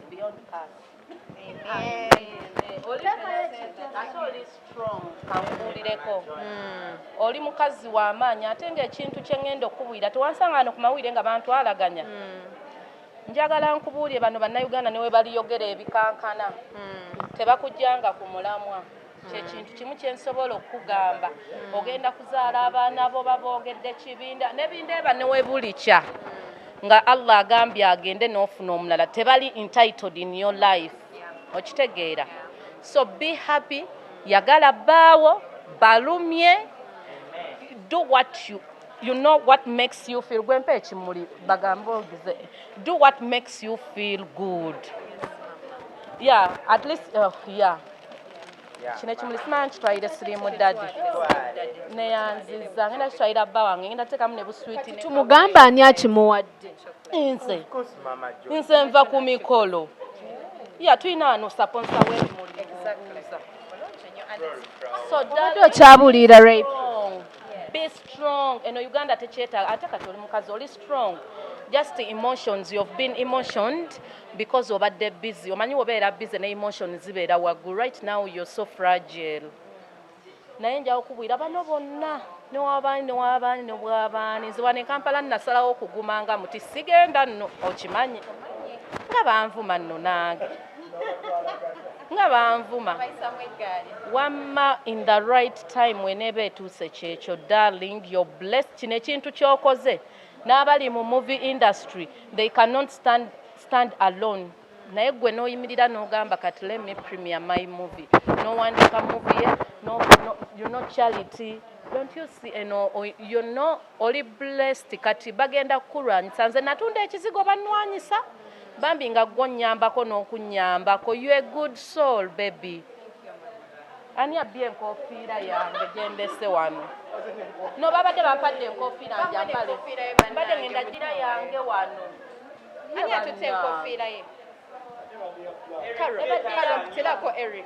Beyond us. Amen. kankuulireko hmm. oli mukazi w'amaanyi ate ng'ekintu kye ŋŋenda okukubuulira tewansanga wano ku mawulire nga bantu alaganya hmm. njagala nkubuulire bano bannayuganda ne we baliyogera ebikankana hmm. tebakujjanga ku mulamwa kyekintu kimu kyensobola okukugamba hmm. ogenda kuzaala abaana bo baboogedde kibinda nebinda eba newebulikya nga allah agambye agende nofuna omulala tebali entitled in your life okitegeera so be happy yagala baawo balumye do what you you know what makes you feel gwempa ekimuli bagambe ogize do what makes you feel good yeah at least uh, yeah kino ekimuli simanya kitwalire sirimu dadi neyanziza ngenda kitwalira bba wange ngenda teekamu ne buswiti tumugamba ani akimuwadde nze nze nva ku mikolo ya tulina wano saponsa webimuli okyabuliira rape be strong eno uganda tekyetaaga ate kati oli mukazi oli strong just emotions you've been emotioned because obadde busy omanyi wobeera busy ne emotion zibeera waggulu right now you're so fragile naye njawo kubwira bano bonna newabaani newabaani nebwabaani nziwa ne kampala nnasalawo okuguma nga muti sigenda nno okimanyi nga banvuma nno nange nga banvuma wamma in the right time weneeba etuuse kyekyo darling your blessed kino ekintu kyokoze n'abali mu movie industry they cannot stand, stand alone naye gwe n'oyimirira n'ogamba kati let me premier my movie n'owandiika movie ye no, no, you know charity don't you see eno you know oli blessed kati bagenda kukulwanyisa nze natunda ekizigo bannwanyisa bambi nga gwo nnyambako n'okunnyambako you a good soul baby Ani abbye enkofiira yange gyendese wano? No babadde bampadde enkofiira nja mbale. Mbadde ngenda gira yange wano. Ani atutte enkofiira ye? Terako Eric.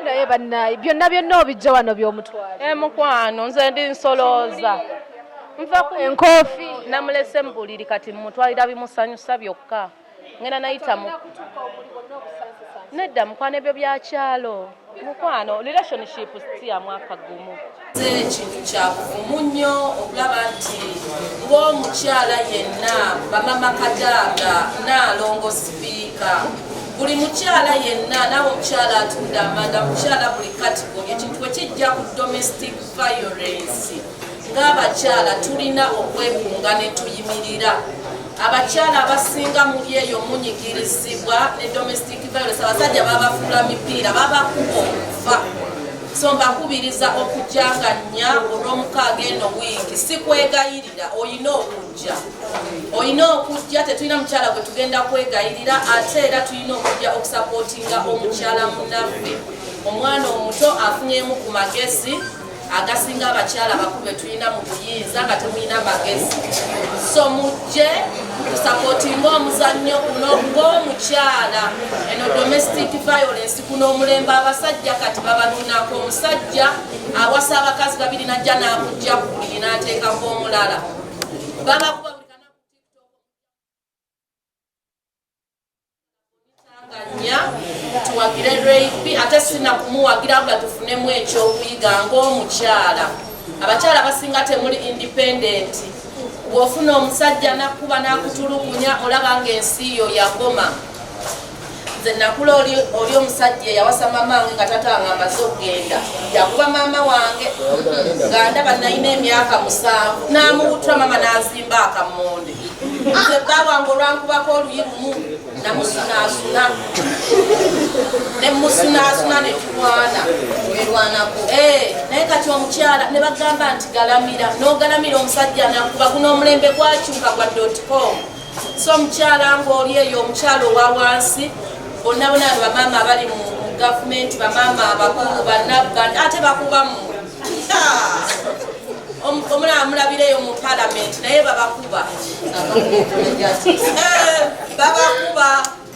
Naye bannaayi byonna byonna obijja wano by'omutwala. Eh, mukwano nze ndi nsolooza. Nva ku enkoofi namulese mu buliri kati mmutwalira bimusanyusa byokka. ngenda nayita mu nedda mukwano ebyo byakyalo mukwano relationship siya mwaka gumu ekintu kyakuvumu nnyo okulaba nti ng'omukyala yenna bamama kadaaga naalongo sipiika buli mukyala yenna nawe omukyala atunda amanda mukyala buli katigori ekintu wekijja ku domestic violence ng'abakyala tulina okwekunga ne tuyimirira abakyala abasinga muli eyo munyigirizibwa ne domestic violence abasajja babafuula mipiira babakuba okufa so mbakubiriza okujjanga nnya olw'omukaaga eno wiiki si kwegayirira olina okujja olina okujja tetulina mukyala gwe tugenda kwegayirira ate era tulina okujja okusapootinga omukyala munaffe omwana omuto afunyemu ku magezi agasinga abakyala bakulu betulina mu buyinza nga temulina magezi so mujje tusapotinga omuzannyo guno ng'omukyala eno domestic violence guno omulembe abasajja kati babatunako omusajja awasa abakazi babiri najja n'amujja ku buli n'ateekako omulala babakuba tuwagire rayb ate sina kumuwagira nga tufunemu ekyokuyiga ngaomukyala abakyala basinga temuli independent bwofuna omusajja nakuba nakutulukunya olaba nga ensi yo yagoma nze nakula oli omusajja eyawasa maama wange nga tata wange amaze okugenda yakuba maama wange nga ndaba nalina emyaka musanvu namubutura maama nazimba akamonde nze bba wange olwankubako oluyi lumu namusunaasuna nemusunaasuna nekikwana erwanako eh, naye kati omukyala ne bagamba nti galamira n'ogalamira omusajja nakuba guno omulembe gwakyuka gwa dotcom so omukyala ngaoli eyo omukyala owa wansi bonna bona abo bamaama abali mu gavumenti bamaama abakulu banauganda ate bakubamu omulaba mulabireyo mu palamenti naye babakuba eh, babakuba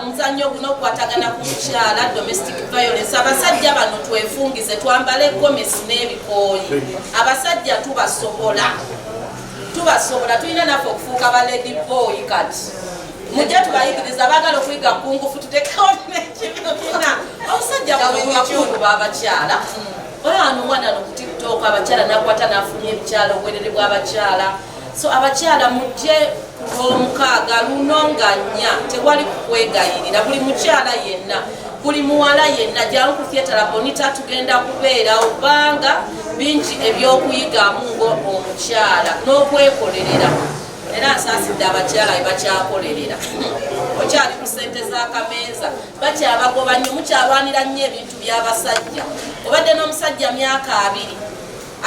omuzannyo guno okukwatagana ku mukyala domestic violence abasajja bano twefungize twambale gomesi n'ebikooyi abasajja tubasobola tubasobola tulina naffe okufuuka ba lady boy kati mujja tubayigiriza bagala okuyiga kungufu tutekewo nekibina omusajja bwakulu babakyala olaba nomwana no ku tiktok abakyala nakwata nafulumya ebikyala obwerere bw'abakyala so abakyala mujje kulwomukaaga luno nga nnya tewali kukwegayirira buli mukyala yenna buli muwala yenna jangu ku theatre bonita tugenda kubeera obanga bingi ebyokuyigamu ngo omukyala n'okwekolerera era nsaasidde abakyala bebakyakolerera okyali ku sente zakameeza bakyabagoba nyo mukyalwanira nnyo ebintu byabasajja obadde n'omusajja myaka abiri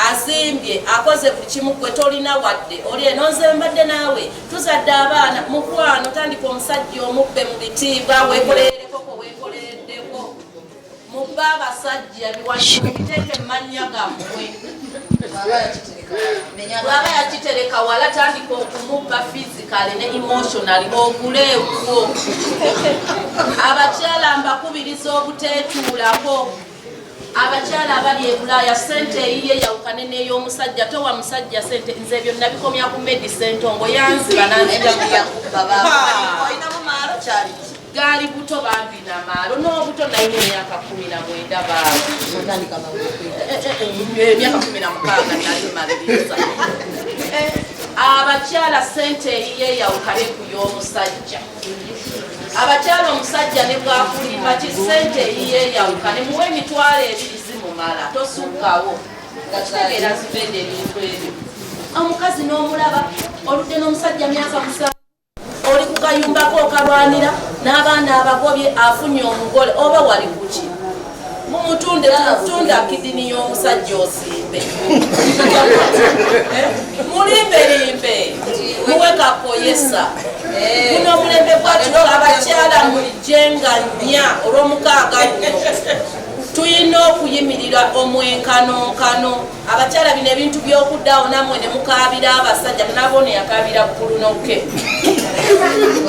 azimbye akoze buli kimu gwe tolina wadde oli eno nze mbadde naawe tuzadde abaana mukwano tandika omusajja omubbe mu bitiibwa wekoleerekoko wekoleeddeko mubbe abasajja biwakibiteeke mumannya gammwe bwaba yakitereka wala tandika okumubba fizikale ne emotionali ogule ewuwo abakyala mbakubiriza obuteetuulako abakyala abali e bulaaya sente eyiye yawukane n'ey'omusajja towa musajja sente nze ebyo nabikomya ku medi sentongo yanziba nanzigaali buto bambi namaalo n'obuto naye emyaka kumi na mwenda baemyaka kumi na mukaaga nalimaliriza abakyala sente eyiye yawukane ku y'omusajja abakyala omusajja ne bwakulimba ki ssente eyiyeyawuka ne muwa emitwalo ebiri zimumala tosukkawo nga kitegeera zivenda ebintu ebyo omukazi n'omulaba oludde n'omusajja myaka musanvu oli ku kayumbako okalwanira n'abaana abagobye afunye omugole oba wali kuki mutunda kidini y'omusajja osimbe mulimbelimbe muwe kakoyesa guno omulembe gwakino abakyala mulijenga nnya olw'omukaaga nnyo tulina okuyimirira omwenkanonkano abakyala bino ebintu byokuddawo namwe ne mukaabira abasajja nabone yakaabira bukulunoke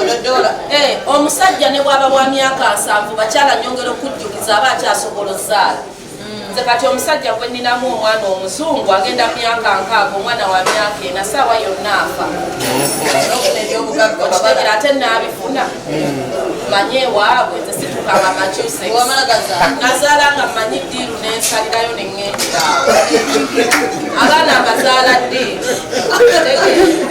ododola eh, omusajja ne bwaba wa myaka nsanvu bakyala nyongera okujjukiza aba akyasobola ozaala hmm. nze kati omusajja gwe ninamu omwana omuzungu agenda myaka nkaaga omwana wa myaka ena saawa yonna afa ebyobugagga kitegera ate naabifuna manye ewaabwe nze situkaba macusex nazaala nga mmanyi ddiiru nensalirayo ne ŋŋenderawo abaana mbazaala ddiiru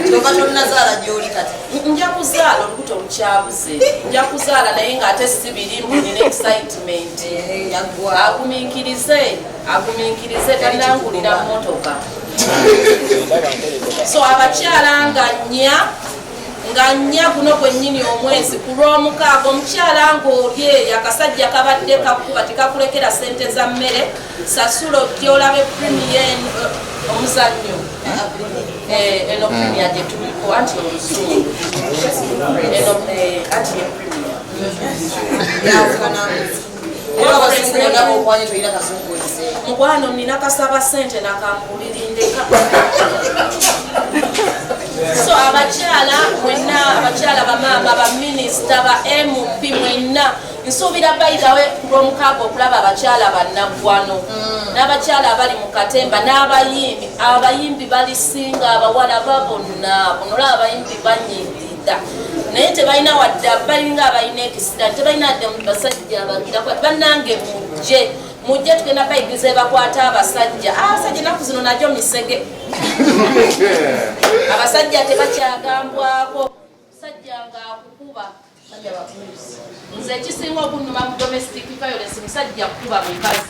kyova tonazaala gyoli kati nja kuzaala olubuto olukyabuze nja kuzaala naye ng'ate si biri mbunina excitement agumiikirize agumiikirize talinangulira mmotoka so abakyala nga nnya nga nnya guno gwennyini omwezi ku lw'omukaaga omukyala ng'olye akasajja kabadde kakuba tekakulekera ssente za mmere sasula ojja olabe primiye eh, omuzannyo eh, eno primiya gye tuliko anti oluzungu eno eh, anti ye primiya mukwano nina kasaba sente nakamburirindeka so abakyala mwenna abakyala bamaama baminisita ba mp mwenna nsuubira bayidawe kulwomukaaga okulaba abakyala bannaggwano mm. n'abakyala abali mu katemba n'abayimbi abayimbi balisinga abawala babonna bunolaba abayimbi banyimbi naye tebalina wadde balinga abalina ekisira tebalina dde basajja abagira kwati bannange mujje mujje tugenda bayigiriza ebakwata abasajja ah, abasajja enaku zino najo misege abasajja tebakyagambwako musajja nga akukuba nze ekisinga okunuma mu domestic violence musajja kukuba mukazi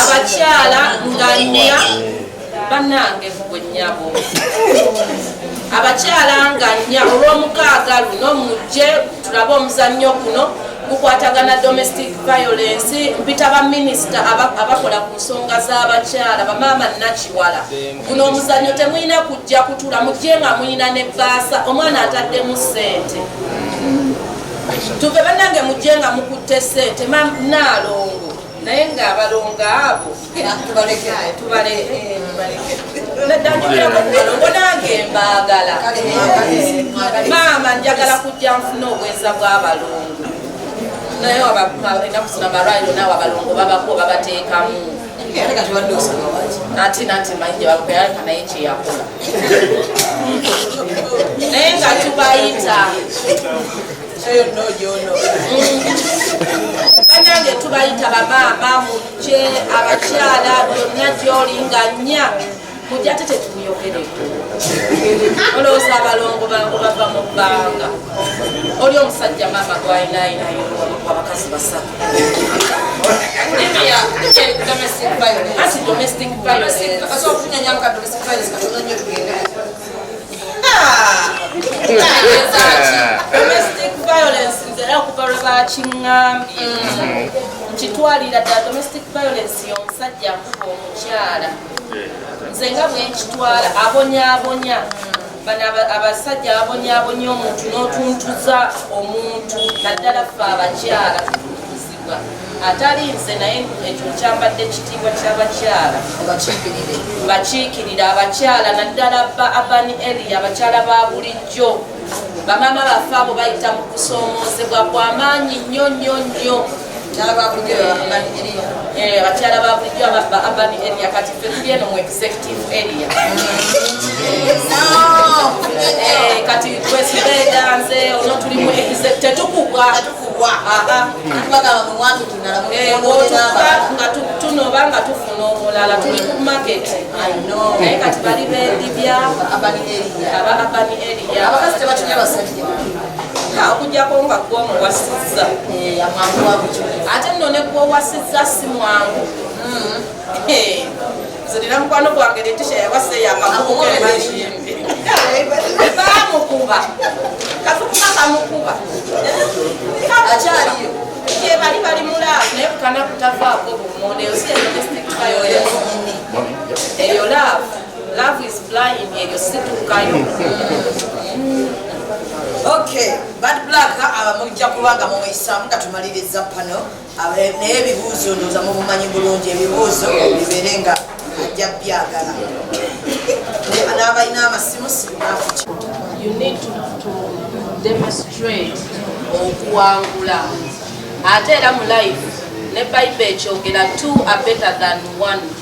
abakyala nganya banange bwenyabo abakyala nganya olwomukaaga luno mujje tulabe omuzannyo guno gukwatagana domestic violence mpita baminisita abakola ku nsonga z'abakyala bamaama nakiwala guno omuzanyo temulina kujja kutula mujje nga mulina ne baasa omwana ataddemu sente tuve banange mujje nga mukutte sente manaalongo naye nga abalongo abo naddanjogerakubalongo nange mbaagala maama njagala kujja nfuna obweza bw'abalongo naye enakusina malwaliro naawe abalongo babako babateekamu ate nate manyi gyebakupealeka naye kyeyakola naye nga tubayita banange tubayita bamaama mujje abakyala byonna gyoli nga nnya mujja ate tetuyogeredde olowooza abalongo bangu bava mu bbanga oli omusajja maama gwayinayinayo abakazi basatu kitwalira dda domestic violence yomusajja akuba omukyala nze nga bwenkitwala abonyabonya bano abasajja abonyabonya omuntu n'otuntuza omuntu naddala fe abakyala tutuuzibwa atali nze naye ekyo kyambadde ekitiibwa ky'abakyala bakiikirira abakyala naddala ba abani eli abakyala ba bulijjo bamaama baffe abo bayita mu kusoomoozebwa kwamaanyi nnyo nnyo nnyo abakyala ba bulijjo eh, ba urban area kati ffe tuli eno mu executive area eh, kati twesibeeda nze ono tuli mu tetukugwa nga tunoba nga tufuna omulala tuli ku market naye kati bali bedibya aba urban area okujjako nga gwe omuwasizza eh, ate nno ne gwe owasizza si mwangu hmm. eh, zirina mukwano gwange letisha yawasa eyakamukubamukuba katukuba kamukuba akyaliyo kyebali bali mulaavu naye kukana kutavaako bumonde eyo si eyo laavu Love is blind, eryo situkayo. Okay, bad black abamujja kubanga mumuyisaamu nga tumaliriza pano naye ebibuuzo ndooza mubumanyi bulungi ebibuuzo bibeere nga ajja byagala n'abalina amasimu sinakuki you need to, to demonstrate okuwangula ate era mu life ne bible ekyogera two are better than one